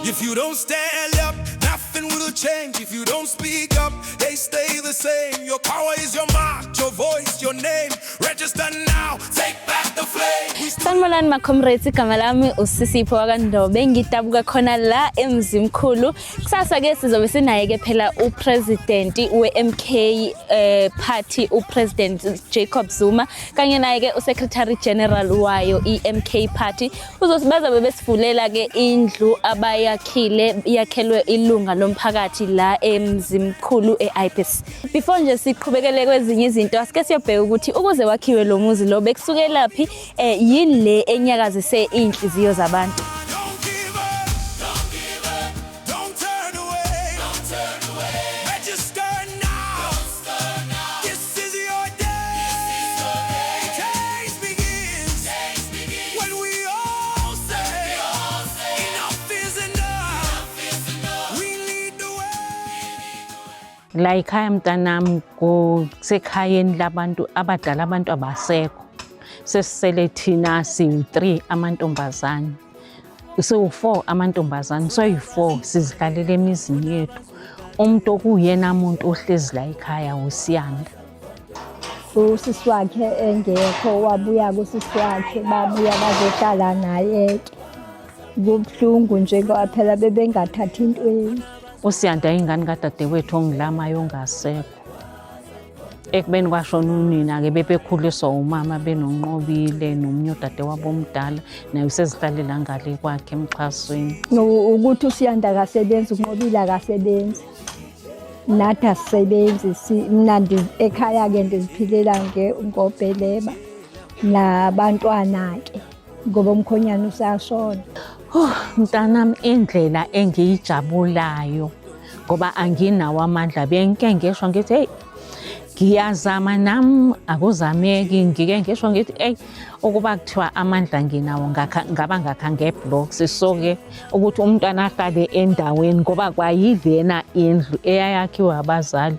If you don't stand up, nothing will change. If you don't speak up, they stay the same. Your power is your mark, your voice, your name. Register now, take back the flame. Sanibonani makhomrades, igama lami usisipho wakandobe ngidabuka khona la emzimkhulu. Kusasa ke sizobe sinaye ke phela upresident weMK eh party upresident Jacob Zuma kanye naye ke usecretary general wayo iMK party Uzothi bazabe besivulela ke indlu abayakhile yakhelwe ilunga lomphakathi la eMzimkhulu eIpis. Before nje siqhubekele kwezinye izinto asike siyobheka ukuthi ukuze wakhiwe lo muzi lo bekusukelaphi eh yini le enyakazise inhliziyo zabantu. la yikhaya mntanami kusekhayeni labantu abadala abantu abasekho sesisele thina siwu-three amantombazane siwu-four amantombazane soyi-four sizihlalele emizini yethu umuntu okuyena muntu ohlezi la ekhaya wusiyanda usisi wakhe engekho wabuya kusisi wakhe babuya bazohlala naye-ke kubuhlungu nje ngoba phela bebengathathi intweni usiyanda ingane kadadewethu ongilamayo ongasekho ekubeni kwashona unina-ke bebekhuliswa umama benonqobile nomunye udade wabo omdala naye usezihlalela ngale kwakhe emxhasweni ukuthi usiyanda kasebenzi unqobile akasebenzi nathi asisebenzi mna ekhaya-ke ndiziphilela ngobheleba nabantwana-ke ngoba umkhonyana usashona oh, mntanami indlela engiyijabulayo ngoba anginawo amandla benke ngisho ngithi heyi ngiyazama nam akuzameki ngike ngisho ngithi eyi ukuba kuthiwa amandla nginawo ngaba ngakha ngeblocks so-ke ukuthi umntwana ahlale endaweni ngoba kwayilena indlu eyayakhiwe abazali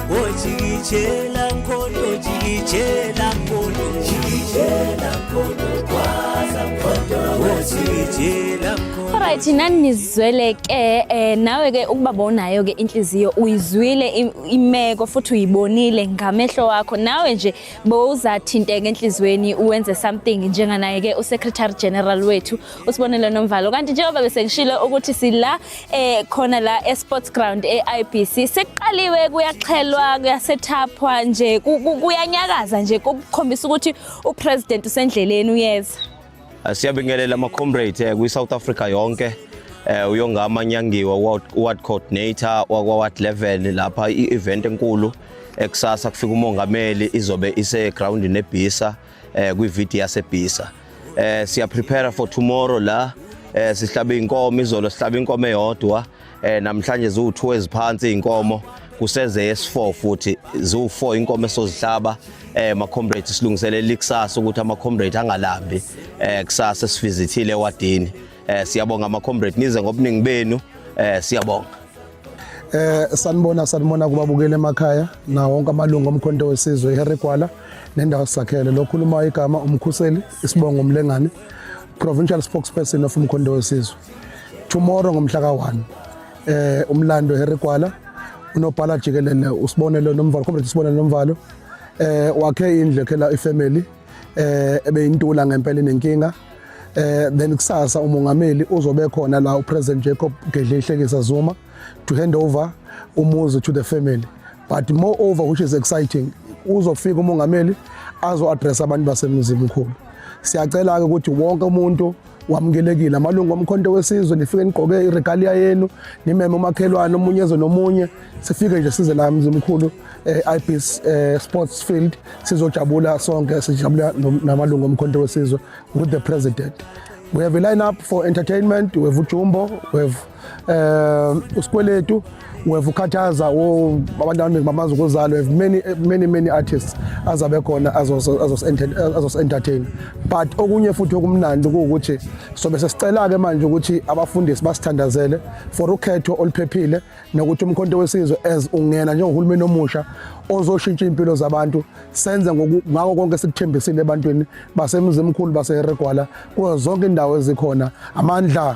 Ojikijela nkondo jikijela nkondo jikijela nkondo kwaza nkondo ojikijela nkondo Alright nani nizwele ke eh nawe ke ukubabonayo ke inhliziyo uyizwile imeko futhi uyibonile ngamehlo wakho nawe nje bowuzathinteka enhlizweni uwenze something njenganaye ke uSecretary General wethu usibonelo nomvalo kanti njengoba bese ngishilo ukuthi sila eh khona la eSports Ground eIBC sekuqaliwe kuyaxhelwa kuyasethapha nje kuyanyakaza nje ukukhombisa ukuthi uPresident usendleleni uyeza ah, Siyabingelela ama comrades eh, kwi South Africa yonke eh uyongama nyangiwa ward coordinator wakwa ward 11 lapha i-event enkulu ekusasa kufika umongameli izobe ise ground nebhisa eh kwi video yasebhisa eh siya prepare for tomorrow la eh sihlaba inkomo izolo sihlaba inkomo eyodwa eh namhlanje ziwu2 eziphansi inkomo kuseze yes4 futhi ziwu4 inkomo esozihlaba eh ma comrade silungiselela ikusasa ukuthi ama comrade angalambi eh kusasa sivizithile ewadini eh siyabonga ama comrade nize ngobuningi benu eh siyabonga Eh sanibona sanibona kubabukela emakhaya na wonke amalungu omkhonto wesizwe iHarry Gwala nendawo sakhele lokhuluma igama umkhuseli isibongo umlengane provincial spokesperson of umkhonto wesizwe tomorrow ngomhla ka1 eh umlando Harry Gwala unobhala jikelele usibonelo nomvalo comrade usibonelo nomvalo eh wakhe indle khela ifamily eh ebeyintula ngempela inenkinga eh then kusasa umongameli uzobe khona la upresident Jacob Gedle ihlekisa Zuma to hand over umuzi to the family but moreover which is exciting uzofika umongameli azo address abantu basemzini mkhulu siyacela ke ukuthi wonke umuntu wamukelekile amalungu omkhonto wesizwe nifike nigqoke iregalia yenu nimeme umakhelwane omunye eze nomunye sifike nje size la mzimkhulu eh, ibis eh, sports field sizojabula sonke sijabula namalungu omkhonto wesizwe with the president we have a lineup for entertainment we have ujumbo we have um usikweletu weva ukhathaza abantu abaningi bamazi ukuzalwa have many many many artists azabe khona azos-entertain but okunye futhi okumnandi kuwukuthi sobe sesicela-ke manje ukuthi abafundisi basithandazele for ukhetho oluphephile nokuthi umkhonto wesizwe as ungena njengohulumeni omusha ozoshintsha impilo zabantu senze ngako konke sikuthembisile ebantwini basemzimkhulu baseheregwala kuzo zonke indawo ezikhona amandla